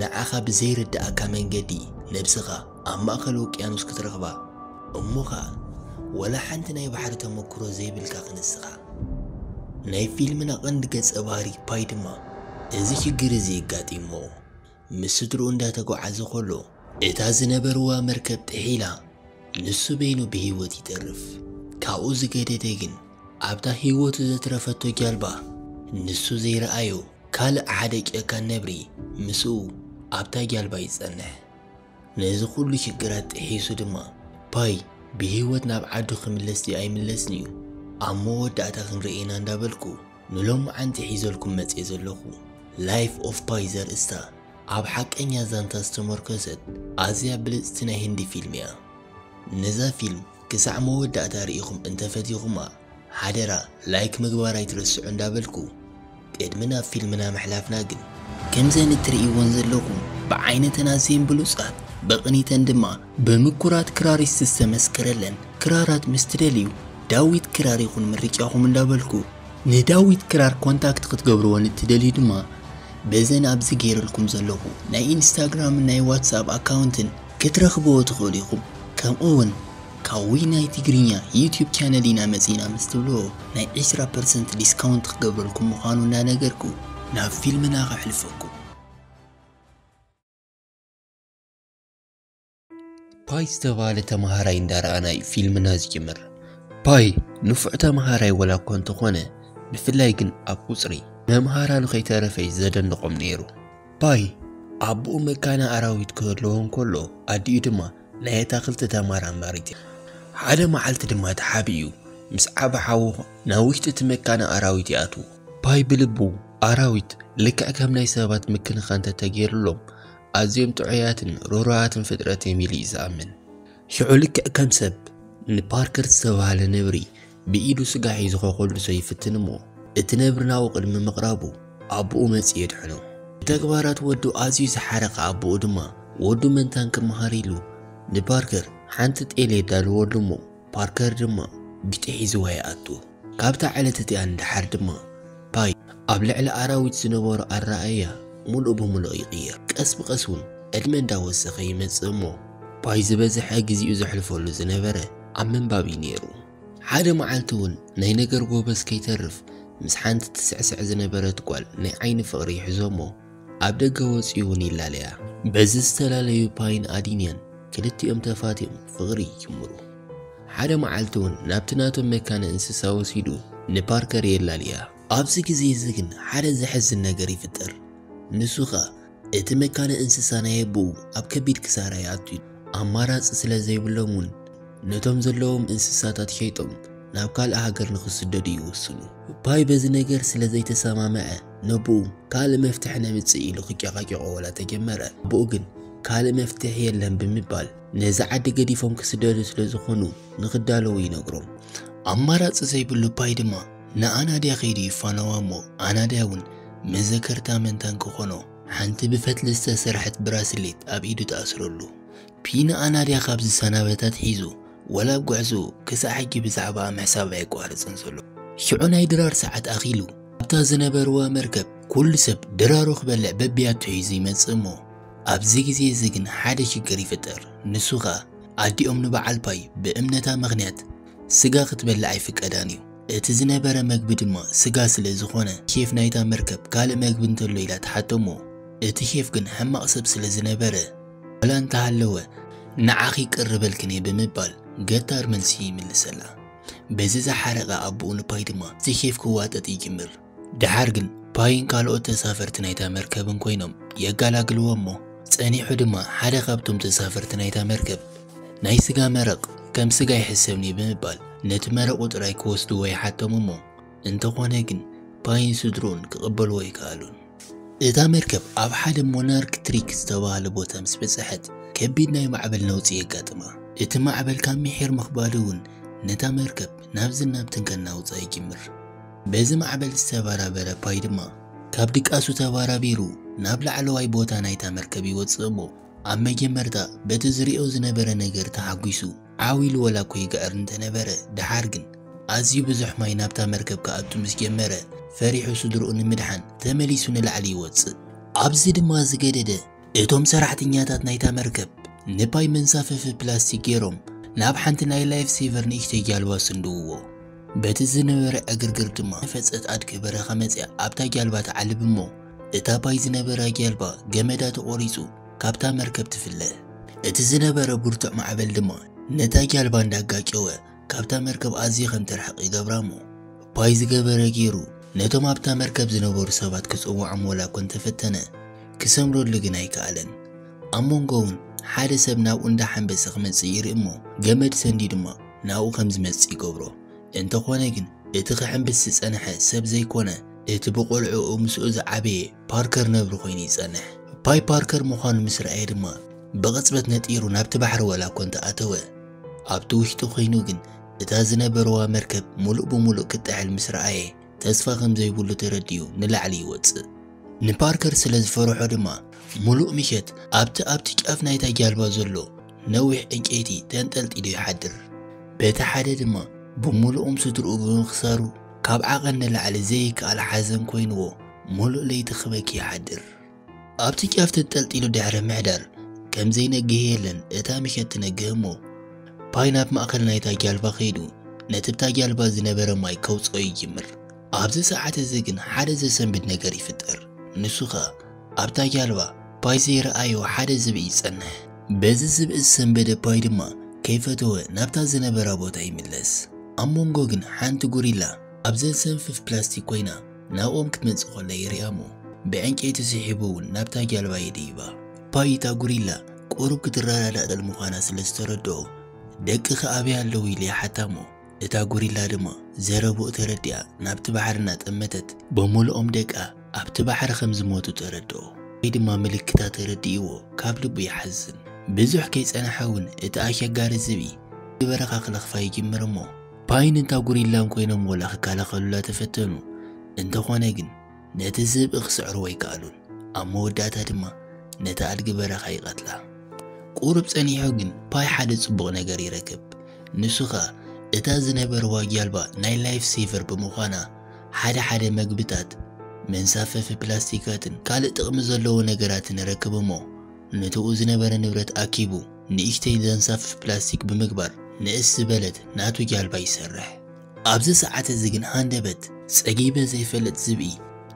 ንዓኻ ብዘይርድኣካ መንገዲ ነብስኻ ኣብ ማእከል ውቅያኖስ ክትረኽባ እሞ ኸኣ ወላ ሓንቲ ናይ ባሕሪ ተመክሮ ዘይብልካ ክንስኻ። ናይ ፊልምና ቀንዲ ገጸ ባህሪ ፓይ ድማ እዚ ሽግር እዚ የጋጢሞ ምስ ስድርኡ እንዳ ተጓዓዘ ከሎ እታ ዝነበርዋ መርከብ ጥሒላ ንሱ በይኑ ብህይወት ይተርፍ ካብኡ ዝገደደ ግን ኣብታ ህይወቱ ዘትረፈቶ ጃልባ ንሱ ዘይረኣዮ ካልእ ሓደ ጨካን ነብሪ ምስኡ ኣብታ ጃልባ ይጸንሕ። ነዚ ኩሉ ሽግራት ጥሒሱ ድማ ፓይ ብህይወት ናብ ዓዱ ክምለስ ድዩ ኣይምለስን እዩ ኣብ መወዳእታ ክንርእይ ኢና እንዳበልኩ ንሎማዓንቲ ሒዘልኩም መጽየ ዘለኹ Life of Pi ዘርእስታ ኣብ ሓቀኛ ዛንታ ዝተሞርከሰት ኣዝያ ብልጽቲ ናይ ህንዲ ፊልም እያ። ነዛ ፊልም ክሳዕ መወዳእታ ርኢኹም እንተፈቲኹማ ሓደራ ላይክ ምግባር ኣይትረስዑ እንዳበልኩ ቅድሚ ናብ ፊልምና ምሕላፍና ግን ከምዘን እትርእይወን ዘለኹም ብዓይነተን ኣዝየን ብሉጻት ብቕኒተን ድማ ብምኩራት ክራሪስት ዝተመስከረለን ክራራት ምስ ትደልዩ ዳዊት ክራር ይኹን ምርጫኹም እንዳበልኩ ንዳዊት ክራር ኮንታክት ክትገብርወን እትደልዩ ድማ በዘን ኣብዚ ገይረልኩም ዘለኹ ናይ ኢንስታግራምን ናይ ዋትስኣፕ ኣካውንትን ክትረኽብዎ ትኽእሉ ኢኹም ከምኡ ውን ካውይ ናይ ትግርኛ ዩቱብ ቻነል ኢና መጺና ምስ ትብልዎ ናይ ዕስራ ፐርሰንት ዲስካውንት ክገብረልኩም ምዃኑ እንዳነገርኩ ናብ ፊልምና ከሕልፈኩም። ፓይ ዝተባህለ ተማሃራይ እንዳረኣና እዩ ፊልምና ዝጅምር። ፓይ ንፉዕ ተማሃራይ ወላ እኳ እንተኾነ ብፍላይ ግን ኣብ ቁጽሪ መምሃራኑ ከይተረፈ እዩ ዘደንቖም ነይሩ። ባይ ኣቦኡ መካነ ኣራዊት ክህልዎ እንከሎ ኣዲኡ ድማ ናይ ኣታኽልቲ ተመራማሪት እያ። ሓደ መዓልቲ ድማ ተሓቢኡ ምስ ዓቢ ሓዉ ናብ ውሽጢ እቲ መካነ ኣራዊት ይኣትዉ። ባይ ብልቡ ኣራዊት ልክዕ ከም ናይ ሰባት ምክንኻን እንተተገይሩሎም ኣዝዮም ጥዑያትን ርህሩሃትን ፍጥረት እዮም ኢሉ እዩ ዝኣምን። ሽዑ ልክዕ ከም ሰብ ንፓርከር ዝተባህለ ነብሪ ብኢዱ ስጋ ሒዙ ከኾልሶ ይፍትን እሞ፣ እቲ ነብሪ ናብኡ ቅድሚ ምቕራቡ፣ ኣቦኡ መጺኡ የድሕኖ። ብተግባራት ወዱ ኣዝዩ ዝሓረቐ ኣቦኡ ድማ፣ ወዱ መንታን ክመሃር ኢሉ፣ ንፓርከር ሓንቲ ጤል የዳልወሉ እሞ፣ ፓርከር ድማ ጊጤ ሒዝዋ ይኣቱ። ካብታ ዕለት እቲኣ ንደሓር ድማ፣ ፓይ ኣብ ልዕሊ ኣራዊት ዝነበሮ ኣረኣእያ ምሉእ ብምሉእ ይቕየር። ቀስ ብቐስ እውን ዕድመ እንዳወሰኸ ይመጽእ እሞ፣ ፓይ ዝበዝሐ ግዜኡ ዘሕልፈሉ ዝነበረ፣ ኣብ ምንባብ እዩ ነይሩ። ሓደ መዓልቲ እውን ናይ ነገር ጎበዝ ከይተርፍ ምስ ሓንቲ ትስዕስዕ ዝነበረት ጓል ናይ ዓይኒ ፍቕሪ ይሕዞ እሞ ኣብ ደገ ወፅዩ እውን ይላለያ። በዚ ዝተላለዩ ፓይን ኣዲንያን ክልቲኦም ተፋትዮም ፍቕሪ ይጅምሩ። ሓደ መዓልቲ እውን ናብቲ ናቶም መካነ እንስሳ ወሲዱ ንፓርከር የላልያ። ኣብዚ ግዜ እዚ ግን ሓደ ዘሕዝን ነገር ይፍጠር። ንሱ ከዓ እቲ መካነ እንስሳ ናይ ኣቦኡ ኣብ ከቢድ ክሳራ ይኣቱ እዩ። ኣማራጺ ስለ ዘይብሎም እውን ነቶም ዘለዎም እንስሳታት ሸይጦም ናብ ካልእ ሃገር ንኽስደዱ ይውስኑ። ፓይ በዚ ነገር ስለ ዘይተሰማምዐ ነቦኡ ካልእ መፍትሒ ነምጽእ ኢሉ ክጨቓጨቖ ዋላ ተጀመረ። ኣቦኡ ግን ካልእ መፍትሒ የለን ብምባል ነዚ ዓዲ ገዲፎም ክስደዱ ስለ ዝኾኑ ንኽዳለዉ ይነግሮም። ኣማራጺ ዘይብሉ ፓይ ድማ ንኣናድያ ከይዱ ይፋነዋ እሞ ኣናድያ ውን መዘከርታ መንታን ክኾኖ ሓንቲ ብፈትሊ ዝተሰርሐት ብራስሌት ኣብ ኢዱ ትኣስረሉ። ፒ ንኣናድያ ካብ ዝሰናበት ኣትሒዙ ወላ ኣብ ጉዕዝኡ ክሳዕ ሕጂ ብዛዕባኣ ምሕሳብ ኣየቋረጸን ዘሎ። ሽዑ ናይ ድራር ሰዓት ኣኺሉ ኣብታ ዝነበርዋ መርከብ ኩሉ ሰብ ድራሩ ክበልዕ በብያቱ ሒዙ ይመጽእ እሞ ኣብዚ ግዜ እዚ ግን ሓደ ሽግር ይፍጠር ንሱ ከኣ ኣዲኦም ንበዓል ፓይ ብእምነታ ምኽንያት ስጋ ክትበልዕ ኣይፍቀዳን እዩ። እቲ ዝነበረ መግቢ ድማ ስጋ ስለ ዝኾነ ሼፍ ናይታ መርከብ ካልእ መግቢ እንተሎ ኢላ ትሓቶ እሞ እቲ ሼፍ ግን ሕማቕ ሰብ ስለ ዝነበረ ዋላ እንተሃለወ ንዓኺ ይቅርበልክን እየ ብምባል ገታር መልሲ ይምልሰላ። በዚ ዝሓረቐ ኣቡኡ ንፓይ ድማ እቲ ሼፍ ክዋጠጥ ይጅምር። ደሓር ግን ፓይን ካልኦት ተሳፈርቲ ናይታ መርከብን ኮይኖም የጋላግልዎ እሞ ጸኒሑ ድማ ሓደ ካብቶም ተሳፈርቲ ናይታ መርከብ ናይ ስጋ መረቕ ከም ስጋ ይሕሰብኒ ብምባል ነቲ መረቑ ጥራይ ክወስድዎ ይሓቶም እሞ እንተኾነ ግን ፓይን ስድርኡን ክቕበልዎ ኣይከኣሉን። እታ መርከብ ኣብ ሓደ ሞናርክ ትሪክ ዝተባህለ ቦታ ምስ በጽሐት ከቢድ ናይ ማዕበል ነውጺ የጋጥማ። እቲ ማዕበል ካብ ምሒር ምኽባዱ እውን ነታ መርከብ ናብዝን ናብትን ከናውጻ ይጅምር። በዚ ማዕበል ዝተበራበረ ፓይ ድማ ካብ ድቃሱ ተበራቢሩ ናብ ላዕለዋይ ቦታ ናይታ መርከብ ይወጽእ እሞ ኣብ መጀመርታ በቲ ዝሪኦ ዝነበረ ነገር ተሓጒሱ ዓው ኢሉ ወላኮ ይግዕር እንተነበረ ደሓር ግን ኣዝዩ ብዙሕ ማይ ናብታ መርከብ ክኣቱ ምስ ጀመረ ፈሪሑ ስድርኡ ንምድሓን ተመሊሱ ንላዕሊ ይወጽእ። ኣብዚ ድማ ዝገደደ እቶም ሰራሕተኛታት ናይታ መርከብ ንፓይ መንሳፈፊ ፕላስቲክ ገይሮም ናብ ሓንቲ ናይ ላይፍ ሴቨር ንእሽተይ ጃልባ ስንድውዎ። በቲ ዝነበረ ዕግርግር ድማ ዝነፈጸት ኣድጊ በረኻ መጺኣ ኣብታ ጃልባ ትዓልብ እሞ እታ ፓይ ዝነበራ ጃልባ ገመዳ ተቖሪጹ ካብታ መርከብ ትፍለ። እቲ ዝነበረ ብርቱዕ ማዕበል ድማ ነታ ጃልባ እንዳጋጨወ ካብታ መርከብ ኣዝዩ ከም ትርሕቕ ይገብራ እሞ፣ እኳይ ዝገበረ ገይሩ ነቶም ኣብታ መርከብ ዝነበሩ ሰባት ክጽውዖም ወላ እኳ እንተ ፈተነ፣ ክሰምረሉ ግን ኣይከኣለን። ኣብ መንጎ እውን ሓደ ሰብ ናብኡ እንዳ ሓንበሰ ክመጽእ ይርኢ እሞ፣ ገመድ ሰንድዩ ድማ ናብኡ ከም ዝመጽእ ይገብሮ። እንተዀነ ግን እቲ ክሕንብስ ዝጸንሐ ሰብ ዘይኰነ፣ እቲ ብቝልዕኡ ምስኡ ዝዓበየ፣ ፓርከር ነብሪ ኮይኑ ይጸንሕ። ፓይ ፓርከር ምዃኑ ምስ ረኣየ ድማ ብቕጽበት ነጢሩ ናብቲ ባሕሪ ዋላ እኮ እንተ ኣተወ። ኣብቲ ውሽጢ ኮይኑ ግን እታ ዝነበርዋ መርከብ ምሉእ ብምሉእ ክትጥሕል ምስ ረኣየ ተስፋ ከም ዘይብሉ ተረዲኡ ንላዕሊ ይወጽእ። ንፓርከር ስለ ዝፈርሖ ድማ ምሉእ ምሸት ኣብቲ ኣብቲ ጫፍ ናይታ ጃልባ ዘሎ ነዊሕ ዕንጨይቲ ተንጠልጢሉ ይሓድር። በቲ ሓደ ድማ ብምሉኦም ስድርኡ ብምኽሳሩ ካብ ዓቐን ንላዕሊ ዘይከኣል ሓዘን ኮይንዎ ሙሉእ ለይቲ ክበኪ ይሓድር ኣብቲ ጫፍ ተጠልጢሉ ድሕሪ ምሕዳር ከም ዘይነግህ የለን እታ ምሸት ትነግህ እሞ ፓይ ናብ ማእከል ናይታ ጃልባ ከይዱ ነቲ ብታ ጃልባ ዝነበረ ማይ ከውጽኦ ይጅምር ኣብዚ ሰዓት እዚ ግን ሓደ ዘሰንብድ ነገር ይፍጠር ንሱ ከኣ ኣብታ ጃልባ ፓይ ዘይረኣዮ ሓደ ዝብኢ ይጸንሕ በዚ ዝብኢ ዝሰንበደ ፓይ ድማ ከይፈተወ ናብታ ዝነበራ ቦታ ይምለስ ኣብ መንጎ ግን ሓንቲ ጉሪላ ኣብ ዘሰንፍፍ ፕላስቲክ ኮይና ናብኦም ክትመጽእ ኮላ ይሪኣሞ ብዕንጨይቲ ስሒቡ እውን ናብታ ጃልባ ይድይባ። ፓይ እታ ጉሪላ ቁሩብ ክትረዳዳእ ጥል ምዃና ስለ ዝተረድኦ ደቅኺ ኣበይ ኣለዉ ኢሉ ይሓታሞ እታ ጉሪላ ድማ ዘረብኡ ተረዲኣ ናብቲ ባሕሪ እናጠመተት ብምሉኦም ደቃ ኣብቲ ባሕሪ ከም ዝሞቱ ተረድኦ። ፓይ ድማ ምልክታ ተረዲእዎ ካብ ልቡ ይሓዝን። ብዙሕ ከይጸንሐ እውን እቲ ኣሸጋሪ ዝብኢ ናብቲ በረኻ ክለኽፋ ይጅምር እሞ ፓይን እታ ጉሪላን ኮይኖም ወላ ክከላኸሉላ ተፈተኑ፣ እንተኾነ ግን ነቲ ዝብኢ ክስዕርዎ ኣይከኣሉን፣ ኣብ መወዳእታ ድማ ነታ ኣድጊ በረኻ ይቐትላ። ቁሩብ ጸኒሑ ግን ፓይ ሓደ ጽቡቕ ነገር ይረክብ፣ ንሱ ከኣ እታ ዝነበርዋ ጃልባ ናይ ላይፍ ሴቨር ብምዃና ሓደ ሓደ መግብታት፣ መንሳፈፊ ፕላስቲካትን ካልእ ጥቕሚ ዘለዎ ነገራትን ረክብ'ሞ ንትኡ ዝነበረ ንብረት ኣኪቡ ንእሽተይ ዘንሳፍፍ ፕላስቲክ ብምግባር ንእስ ዝበለት ናቱ ጃልባ ይሰርሕ። ኣብዚ ሰዓት እዚ ግን ሃንደበት ጸጊበ ዘይፈልጥ ዝብኢ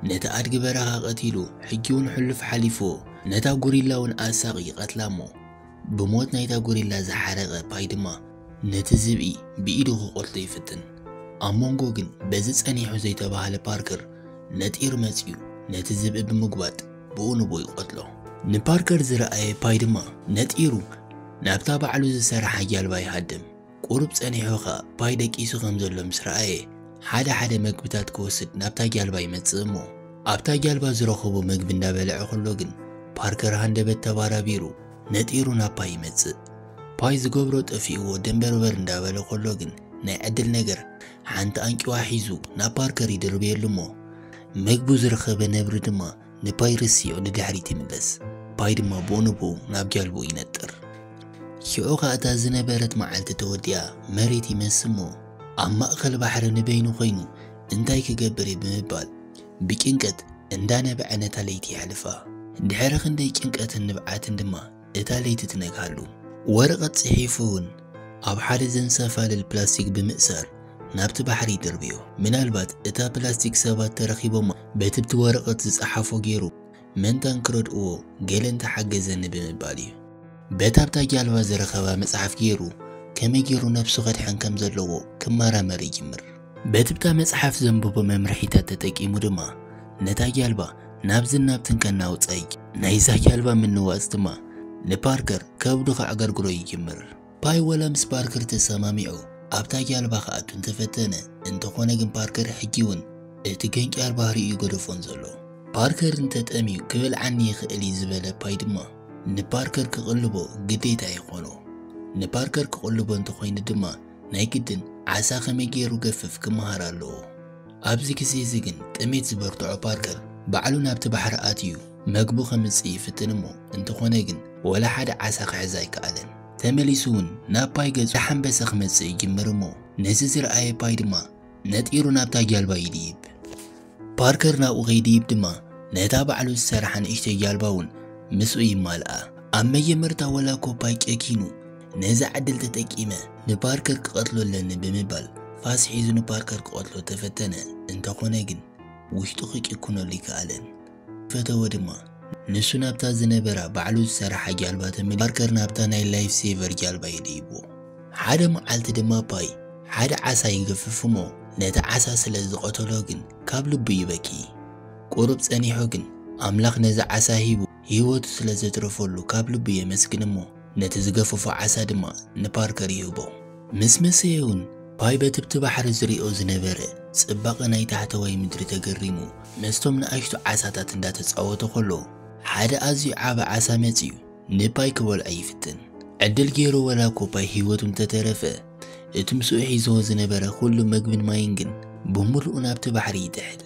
ነቲ ኣድጊ በረኻ ቀቲሉ ሕጂውን ሕሉፍ ሓሊፉ ነታ ጉሪላውን ኣሳቒ ይቐትላሞ ብሞት ናይታ ጉሪላ ዝሓረቐ ፓይ ድማ ነቲ ዝብኢ ብኢዱ ክቆርቶ ይፍትን። ኣብ መንጎ ግን በዚ ጸኒሑ ዘይተባህለ ፓርከር ነጢሩ መጺኡ ነቲ ዝብኢ ብምጉባጥ ብኡ ንብኡ ይቐትሎ። ንፓርከር ዝረኣየ ፓይ ድማ ነጢሩ ናብታ ባዕሉ ዝሰርሓ ጃልባ ይሃድም። ቁሩብ ጸኒሑ ኸኣ ፓይ ደቂሱ ከም ዘሎ ምስ ረኣየ ሓደ ሓደ መግብታት ክወስድ ናብታ ጃልባ ይመጽእ እሞ ኣብታ ጃልባ ዝረኸቦ መግቢ እንዳበልዐ ከሎ ግን ፓርከር ሃንደበት ተባራቢሩ ነጢሩ ናብ ፓይ ይመጽእ። ፓይ ዝገብሮ ጠፊእዎ ደንበርበር እንዳበለ ከሎ ግን ናይ ዕድል ነገር ሓንቲ ኣንጭዋ ሒዙ ናብ ፓርከር ይድርብየሉ እሞ መግቡ ዝረኸበ ነብሪ ድማ ንፓይ ርስዮ ንድሕሪት ይምለስ ፓይ ድማ ቦንቦ ናብ ጃልቦ ይነጥር ሽዑ ኸኣ እታ ዝነበረት መዓልቲ ተወዲኣ መሬት ይመስሞ ኣብ ማእኸል ባሕሪ ንበይኑ ኮይኑ እንታይ ክገብር እዩ ብምባል ብጭንቀት እንዳነበዐ ነታ ለይቲ የሕልፋ ድሕሪ ክንደይ ጭንቀትን ንብዓትን ድማ እታ ለይቲ ትነግሃሉ። ወረቐት ጽሒፉ'ውን ኣብ ሓደ ዘንሳፋልል ፕላስቲክ ብምእሳር ናብቲ ባሕሪ ይድርብዮ። ምናልባት እታ ፕላስቲክ ሰባት ተረኪቦማ በቲ'ብቲ ወረቐት ዝጸሓፎ ገይሩ መንታ እንክረድእዎ ገለ እንተሓገዘኒ ብምባል እዩ። በታ ኣብታ ጃልባ ዝረኸባ መጽሓፍ ገይሩ ከመይ ገይሩ ነብሱ ከድሕን ከምዘለዎ ክመራመር ይጅምር። በቲ ብታ መጽሓፍ ዘንበቦ መምርሒታት ተጠቂሙ ድማ ነታ ጃልባ ናብዝን ናብትን ከናውጸይ፣ ናይዛ ጃልባ ምንዋጽ ድማ ንፓርከር ከብዱ ከዕገርግሮ ይጅምር። ፓይ ወላ ምስ ፓርከር ተሰማሚዑ ኣብታ ጃልባ ክኣቱ እንተፈተነ፣ እንተኾነ ግን ፓርከር ሕጂውን እቲ ገንጫር ባህሪኡ እዩ ገደፎን ዘሎ። ፓርከር እንተጠምዩ ክበልዓኒ ይኽእል እዩ ዝበለ ፓይ ድማ ንፓርከር ክቕልቦ ግዴታ ይኾኖ። ንፓርከር ክቕልቦ እንተኾይኑ ድማ ናይ ግድን ዓሳ ከመይ ገይሩ ገፍፍ ክመሃር ኣለዎ። ኣብዚ ግዜ እዚ ግን ጥሜት ዝበርትዖ ፓርከር ባዕሉ ናብቲ ባሕሪ ኣትዩ መግቡ ከምጽእ ይፍትን እሞ እንተኾነ ግን ወላ ሓደ ዓሳ ክሕዝ ኣይከኣለን። ተመሊሱ ውን ናብ ፓይ ገጹ ዳሓንበሰ ክመጽእ ይጅምር እሞ ነዚ ዝረኣየ ፓይ ድማ ነጢሩ ናብታ ጃልባ ይድይብ። ፓርከር ናብኡ ከይድይብ ድማ ነታ ባዕሉ ዝሰርሓ ንእሽተይ ጃልባ እውን ምስኡ ይማልኣ። ኣብ መጀመርታ ወላ ኮፓይ ጨኪኑ ነዛ ዕድል ተጠቂመ ንፓርከር ክቐትሎ ኣለኒ ብምባል ፋስ ሒዙ ንፓርከር ክቐትሎ ተፈተነ፣ እንተኾነ ግን ውሽጡ ክጭክነሉ ኣይከኣለን። ፈተወ ድማ። ንሱ ናብታ ዝነበራ ባዕሉ ዝሰራሓ ጃልባ ተመሊሱ ፓርከር ናብታ ናይ ላይፍ ሴቨር ጃልባ የድይቦ። ሓደ መዓልቲ ድማ ፓይ ሓደ ዓሳ ይገፍፍ እሞ ነቲ ዓሳ ስለ ዝቐተሎ ግን ካብ ልቡ ይበኪ። ቁሩብ ጸኒሑ ግን ኣምላኽ ነዚ ዓሳ ሂቡ ህይወቱ ስለ ዘትረፈሉ ካብ ልቡ የመስግን እሞ፣ ነቲ ዝገፈፎ ዓሳ ድማ ንፓርከር ይህቦ። ምስ መሰየ'ውን ፓይ በትብቲ ባሕሪ ዝሪኦ ዝነበረ ጽባቐ ናይ ታሕተዋይ ምድሪ ተገሪሙ ምስቶም ንኣሽቱ ዓሳታት እንዳተጻወተ ከሎ ሓደ ኣዝዩ ዓቢ ዓሳ መጺኡ ንፓይ ክበልዖ ይፍትን። ዕድል ጌሩ ወላ'ኮ ፓይ ህይወቱ እንተተረፈ እቲ ምስኡ ሒዝዎ ዝነበረ ኩሉ መግብን ማይን ግን ብምሉኡ ናብቲ ባሕሪ ይጥሕል።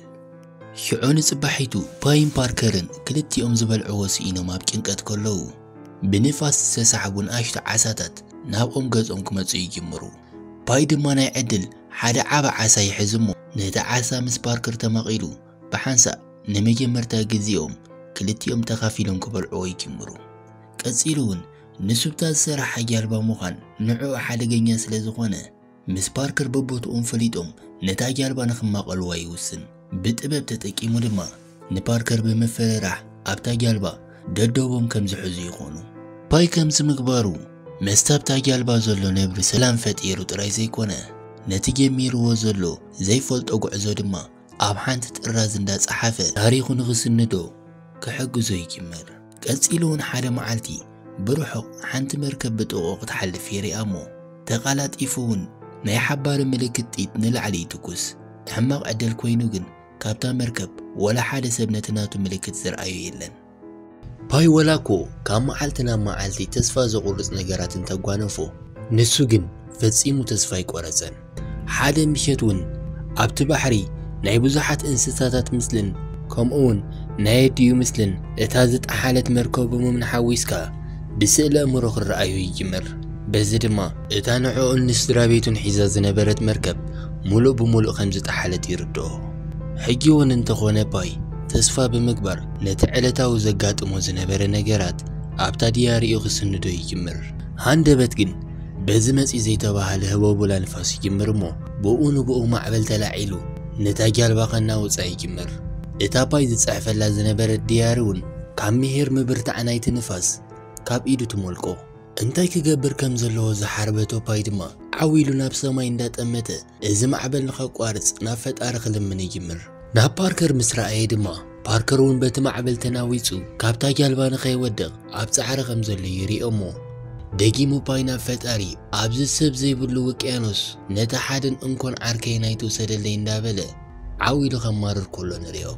ሽዑ ንጽባሒቱ ፓይን ፓርከርን ክልቲኦም ዝበልዕዎ ስኢኖም ኣብ ጭንቀት ከለዉ ብንፋስ ዝተሳሕቡ ንኣሽቱ ዓሳታት ናብኦም ገጾም ክመጹ ይጅምሩ። ፓይ ድማ ናይ ዕድል ሓደ ዓቢ ዓሳ ይሕዝ እሞ ነቲ ዓሳ ምስ ፓርከር ተማቒሉ ብሓንሳእ ንመጀመርታ ግዜኦም ክልቲኦም ተኻፊሎም ክበልዕዎ ይጅምሩ። ቀጺሉ'ውን ንሱብታ ዝሰርሓ ጃልባ ምዃን ንዕኡ ሓደገኛ ስለ ዝኾነ፣ ምስ ፓርከር በቦትኦም ፈሊጦም ነታ ጃልባ ንኽማቐልዋ ይውስን። ብጥበብ ተጠቂሙ ድማ ንፓርከር ብምፍርራሕ ኣብታ ጃልባ ደዶቦም ከም ዝሕዙ ይኾኑ። ፓይ ከምዚ ምግባሩ ምስቲ ኣብታ ጃልባ ዘሎ ነብሪ ሰላም ፈጢሩ ጥራይ ዘይኮነ፣ ነቲ ጀሚርዎ ዘሎ ዘይፈልጦ ጉዕዞ ድማ ኣብ ሓንቲ ጥራዝ እንዳጸሓፈ ታሪኹ ንኽስንዶ ክሕግዞ ይጅምር። ቀጺሉውን ሓደ መዓልቲ ብርሑቕ ሓንቲ መርከብ ብጥቕኡ ክትሓልፍ ይሪኣ እሞ ተቓላጢፉውን ናይ ሓባሪ ምልክት ጥይት ንላዕሊ ይትኩስ። ሕማቕ ዕድል ኮይኑ ግን ካብታ መርከብ ወላ ሓደ ሰብ ነቲ ናቱ ምልክት ዝርኣዮ የለን። ፓይ ወላኮ ካብ መዓልቲ ናብ መዓልቲ ተስፋ ዘቑርጽ ነገራት እንተጓነፎ፣ ንሱ ግን ፈጺሙ ተስፋ ኣይቆረጸን። ሓደ ምሸት ውን ኣብቲ ባሕሪ ናይ ብዙሓት እንስሳታት ምስልን ከምኡውን ናይ ኣዲኡ ምስልን እታ ዝጠሓለት መርከቦምምን ሓዊስካ ብስእለ ኣእምሮ ክረኣዩ ይጅምር። በዚ ድማ እታ ንዕኡን ንስድራቤቱን ሒዛ ዝነበረት መርከብ ምሉእ ብምሉእ ከም ዝጠሓለት ይርድኦ። ሕጂ እውን እንተ ዀነ ፓይ ተስፋ ብምግባር ነቲ ዕለታዊ ዘጋጥሞ ዝነበረ ነገራት ኣብታ ድያሪኡ ክስንዶ ይጅምር። ሃንደበት ግን በዚ መጺ ዘይተባህለ ህቦቡላ ንፋስ ይጅምር እሞ ብኡ ንብኡ ማዕበል ተላዒሉ ነታ ጃልባ ከናውጻ ይጅምር። እታ ፓይ ዝጽሕፈላ ዝነበረት ድያሪ እውን ካብ ምሒር ምብርታዕ ናይቲ ንፋስ ካብ ኢዱ ትሞልቆ። እንታይ ክገብር ከም ዘለዎ ዝሓርበ ቶፓይ ድማ ዓው ኢሉ ናብ ሰማይ እንዳጠመተ እዚ ማዕበል ንኸቋርጽ ናብ ፈጣሪ ክልምን ይጅምር። ናብ ፓርከር ምስ ረኣየ ድማ ፓርከር እውን በቲ ማዕበል ተናዊጹ ካብታ ጃልባ ንኸይወድቕ ኣብ ጻዕሪ ከም ዘሎ ይሪኦ እሞ ደጊሙ ፓይ ናብ ፈጣሪ ኣብዚ ሰብ ዘይብሉ ውቅያኖስ ነቲ ሓደን እንኮን ዓርከይን ኣይትውሰደለይ እንዳበለ ዓው ኢሉ ከማርር ከሎ ንሪኦ።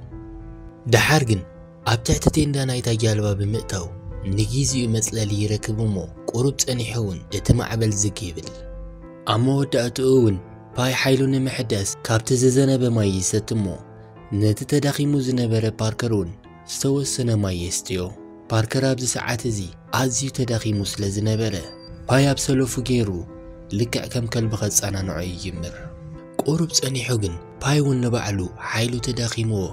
ደሓር ግን ኣብ ትሕቲ ቴንዳ ናይታ ጃልባ ብምእታው ንጊዚኡ መጽለሊ ይረክብ እሞ ቁሩብ ጸኒሑ እውን እቲ ማዕበል ዝግ ይብል። ኣብ መወዳእትኡ እውን ፓይ ሓይሉ ንምሕዳስ ካብቲ ዝዘነበ ማይ ይሰቲ እሞ ነቲ ተዳኺሙ ዝነበረ ፓርከር እውን ዝተወሰነ ማይ የስትዮ። ፓርከር ኣብዚ ሰዓት እዚ ኣዝዩ ተዳኺሙ ስለ ዝነበረ ፓይ ኣብ ሰለፉ ገይሩ ልክዕ ከም ከልቢ ከጸናንዖ ይጅምር። ቁሩብ ጸኒሑ ግን ፓይ እውን ንባዕሉ ሓይሉ ተዳኺምዎ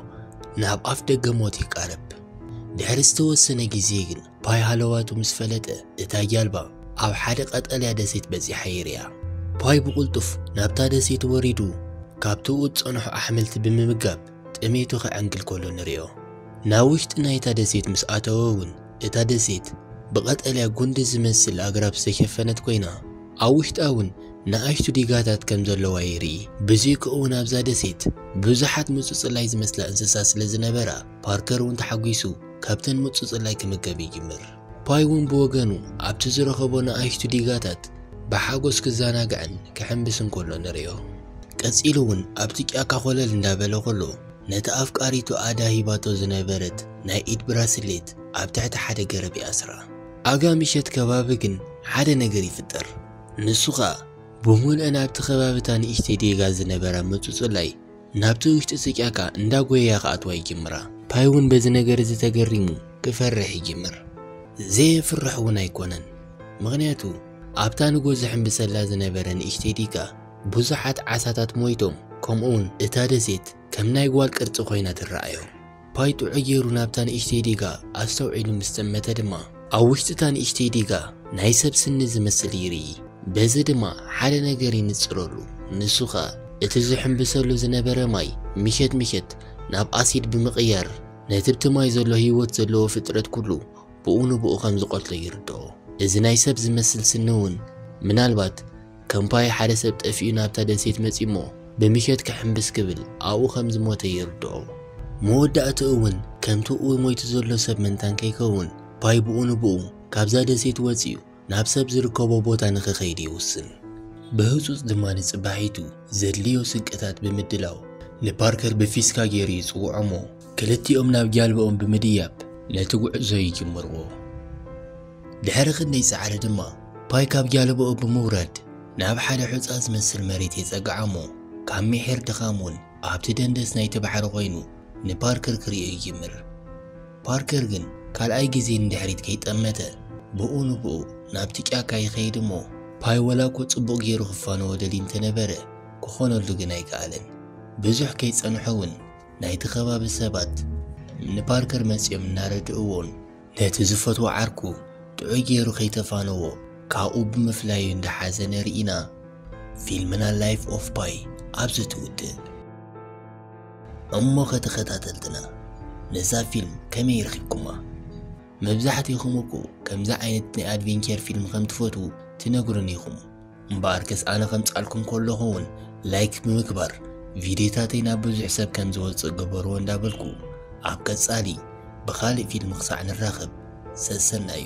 ናብ ኣፍ ደገ ሞት ይቃረብ። ድሕሪ ዝተወሰነ ግዜ ግን ፓይ ሃለዋቱ ምስ ፈለጠ እታ ጃልባ ኣብ ሓደ ቀጠልያ ደሴት በጺሓ ይርኣ። ፓይ ብቕልጡፍ ናብታ ደሴት ወሪዱ ካብትኡ ዝጸንሑ ኣሕምልቲ ብምምጋብ ጥሜቱ ከዐንግል ከሎ ንርእዮ። ናብ ውሽጢ ናይታ ደሴት ምስ ኣተወ እውን እታ ደሴት ብቐጠልያ ጉንዲ ዝመስል ኣግራብ ዝተሸፈነት ኮይና፣ ኣብ ውሽጣ እውን ንኣሽቱ ዲጋታት ከም ዘለዋ ይርኢ። ብዘይክ እውን ኣብዛ ደሴት ብዙሓት ምጹጽላይ ዝመስላ እንስሳ ስለ ዝነበራ፣ ፓርከር እውን ተሓጒሱ ካብተን ምጹጽላይ ክምገብ ይጅምር። ፓይ እውን ብወገኑ ኣብቲ ዝረኸቦ ንኣሽቱ ዲጋታት ብሓጎስ ክዘናጋዕን ክሕንብስን ከሎ ንርእዮ። ቀጺሉ እውን ኣብቲ ጫካ ኮለል እንዳበለ ከሎ ነታ ኣፍቃሪቱ ኣዳ ሂባቶ ዝነበረት ናይ ኢድ ብራስሌት ኣብ ትሕቲ ሓደ ገረብ ይኣስራ። ኣጋ ምሸት ከባቢ ግን ሓደ ነገር ይፍጠር። ንሱ ከኣ ብሙልእን ኣብቲ ከባቢ እታ ንእሽተይ ዴጋ ዝነበራ ምጹጹላይ ናብቲ ውሽጢ ስቂያካ እንዳ ጎየያ ክኣትዋ ይጅምራ። ፓይ ውን በዚ ነገር እዚ ተገሪሙ ክፈርሕ ይጅምር። ዘየፍርሕ ውን ኣይኮነን ምኽንያቱ ኣብታ ንጎ ዝሕምብሰላ ዝነበረ ንእሽተይ ዲጋ ብዙሓት ዓሳታት ሞይቶም ከምኡ ውን እታ ደሴት ከም ናይ ጓል ቅርጺ ኮይና ትረኣዮ። ፓይ ጥዑይ ገይሩ ናብታ ንእሽተይ ዲጋ ኣስተውዒሉ ምስ ጠመተ ድማ፣ ኣብ ውሽጢ እታ ንእሽተይ ዲጋ ናይ ሰብ ስኒ ዝመስል ይርኢ። በዚ ድማ ሓደ ነገር ይንጽረሉ፣ ንሱ ከኣ እቲ ዝሕምብሰሉ ዝነበረ ማይ ምሸት ምሸት ናብ ኣሲድ ብምቕያር ነቲብቲ ማይ ዘሎ ህይወት ዘለዎ ፍጥረት ኩሉ ብኡ ንብኡ ከም ዝቐትሎ ይርድኦ። እዚ ናይ ሰብ ዝመስል ስኒ እውን ምናልባት ከምፓይ ሓደ ሰብ ጠፊኡ ናብታ ደሴት መጺኡ'ሞ ብምሸት ክሕምብስ ክብል ኣብኡ ከም ዝሞተ ይርድኦ። መወዳእትኡ እውን ከምቲ ኡይ ሞይቱ ዘሎ ሰብ መንታን ከይከውን ፓይ ብኡ ንብኡ ካብዛ ደሴት ወጺኡ ናብ ሰብ ዝርከቦ ቦታ ንክኸይድ ይውስን። ብህጹጽ ድማ ንጽባሒቱ ዘድልዮ ስንቅታት ብምድላው ንፓርከር ብፊስካ ገይሩ ይጽውዖ'ሞ ክልቲኦም ናብ ጃልባኦም ብምድያብ ነቲ ጉዕዞ ይጅምርዎ። ድሕሪ ክንደይ ጻዕሪ ድማ ፓይ ካብ ጃልባኡ ብምውራድ ናብ ሓደ ሑጻ ዝመስል መሬት የጸግዓ'ሞ ካብ ምሒር ድኻም'ውን ኣብቲ ደንደስ ናይቲ ባሕሪ ኮይኑ ንፓርከር ክርእዮ ይጅምር። ፓርከር ግን ካልኣይ ግዜ ንድሕሪት ከይጠመተ ብኡ ንብኡ ናብቲ ጫካ ይኸይድ'ሞ ፓይ ወላ'ኮ ጽቡቕ ገይሩ ክፋነዎ ደልዩ እንተነበረ ክኾነሉ ግን ኣይከኣለን። ብዙሕ ከይጸንሑ'ውን ናይቲ ከባቢ ሰባት ንፓርከር መጺኦም እናረድእዎን፣ ነቲ ዝፈትዎ ዓርኩ ጥዑይ ገይሩ ከይተፋነዎ ካብኡ ብምፍላዩ እንዳሓዘነ ርኢና ፊልምና ላይፍ ኦፍ ፓይ ኣብዚ ትውድእ። እሞኸ ተኸታተልትና ነዛ ፊልም ከመይ ረኺብኩማ? መብዛሕቲኹም እኮ ከምዚ ዓይነት ናይ ኣድቬንቸር ፊልም ከምትፈትዉ ትነግሩኒ ኢኹም። እምበኣርከስ ኣነ ከምጻልኩም ከለኹ እውን ላይክ ብምግባር ቪድዮታተይ ናብ ብዙሕ ሰብ ከም ዝወጽእ ግበርዎ እንዳበልኩ ኣብ ቀጻሊ ብኻልእ ፊልም ክሳዕ ንራኸብ ሰሰናዩ።